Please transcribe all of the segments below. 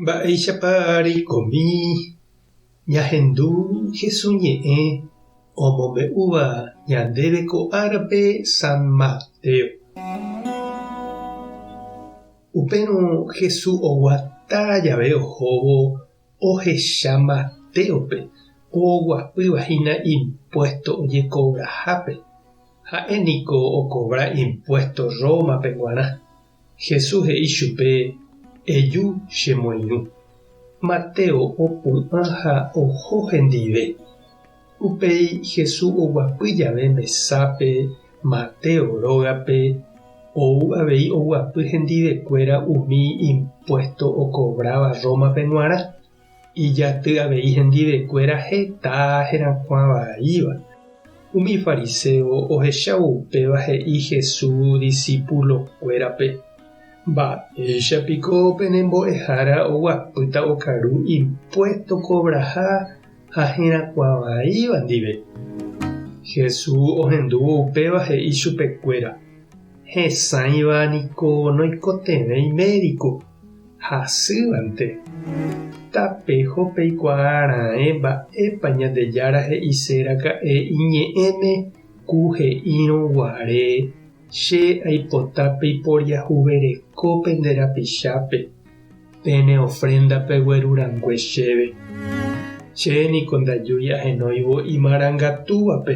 Mba'éichapa reikomi ñahendu Jesús ñe'ẽ omombe'úva ñandéve ko árape San Mateo. Upérõ Jesús oguata jave ohóvo ohecha Mateópe oguapýva hína impuésto ojekovrahápe. Ha'e niko okovra impuésto Rómape g̃uarã. Jesús he'i chupe, Eju che moirũ. Mateo opu'ã ha oho hendive. Upéi Jesús oguapy jave mesápe Mateo rógape, ou avei oguapy hendivekuéra umi impuésto okovráva Rómape g̃uarã. Ijaty avei hendivekuéra heta herakuã vaíva. Umi fariséo ohechávo upéva he'i Jesús disípulokuérape, Mba'éicha piko pene mbo'ehára oguapýta okaru impuésto kovraha ha herakuã vaíva ndive? Jesús ohendúvo upéva he'i chupekuéra, Hesãiva niko noikotevẽi médiko. hasývante, tapeho peikuaa raẽ mba'épa Ñandejára he'ise raka'e iñe'ẽme ku he'írõ guare, Che aipota peiporiahuvereko pende rapichápe, pene ofrénda pegueru rangue chéve. Che niko ndajúi ahenóivo imarangatúvape.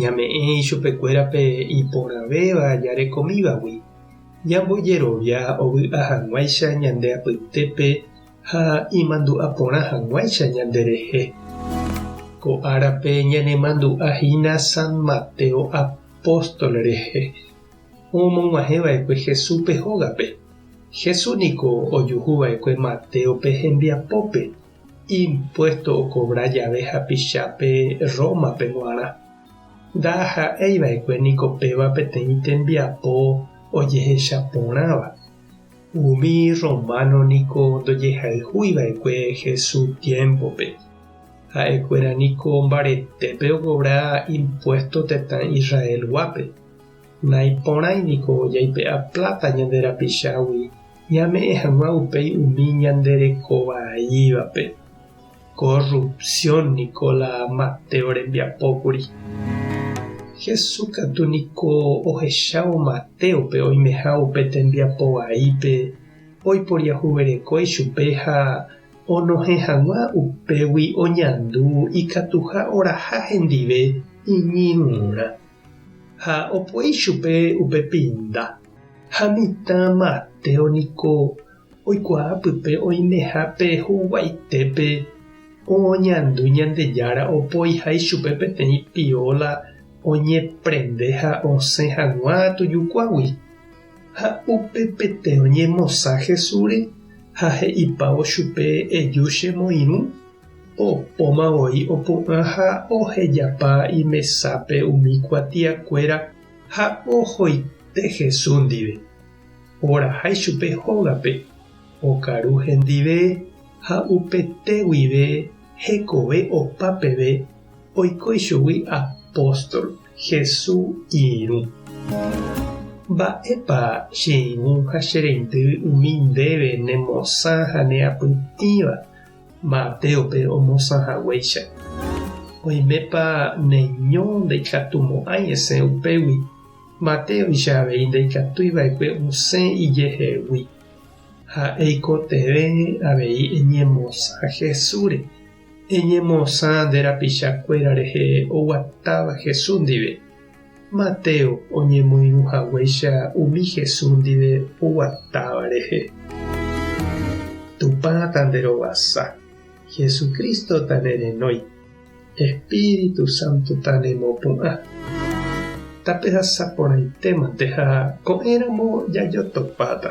Ñame'ẽ ichupekuérape iporãvéva jarekomívagui, ñambojerovia ovy'a hag̃uáicha ñande apytépe ha imandu'a porã hag̃uáicha ñanderehe. Ko árape ñanemandu'a hína San Mateo apóstol rehe, omog̃uahẽva'ekue Jesúspe hógape. Jesús niko ojuhuva'ekue Matéope hembiapópe. impuésto okovra jave hapichápe Rómape g̃uarã. Ndaha'éi va'ekue niko péva peteĩ tembiapo ojehecha porãva. Umi rrománo niko ndojehayhúi va'ekue Jesús tiémpope. Ha'ekuéra niko mbaretépe okovra impuésto tetã Israelguápe. Naiporãi niko jaipe'a pláta ñande rapichágui Ñame'ẽ hag̃ua upéi umi ñande reko vaívape. Korrupsión niko la Mateo rembiapo kuri. Jesús katu niko ohechávo Matéope oimeha upe tembiapo vaípe oiporiahuvereko ichupe ha onohẽ hag̃ua upégui oñandu ikatuha oraha hendive iñirũrã. ha opo'i chupe upe pinda, ha mitã matéo niko oikuaa pype oimeha pe huguaitépe oñandu Ñandejára opoiha ichupe peteĩ piola oñeprende ha osẽ hag̃ua tujukuágui, ha upe pete oñemosã Jesúsre ha he'ipávo chupe eju che moirũ. Opóma voi opu'ã ha ohejapa imesápe umi kuatiakuéra ha ohoite Jesús ndive. Oraha ichupe hógape, okaru hendive ha upete guive hekove opa peve oiko ichugui apóstol Jesús irũ. Mba'épa che irũ ha che reindy umi ndéve nemosã ha neapytĩva? Mateópe omosã haguéicha. Oimépa neño ndaikatumo'ãi esẽ upégui, Mateóicha avei ndaikatúi va'ekue osẽ ijehegui. Ha eikotevẽ avei eñemosã Jesúsre, eñemosã nde rapicha kuéra rehe oguatáva Jesús ndive. Mateo oñemoirũ haguéicha umi Jesús ndive oguatáva rehe. Tupã tanderovasa, Jesucristo tanerenói, Espíritu Santo tanemopu'ã. Tapehasa porãitémante ha ko'ẽramo jajotopáta.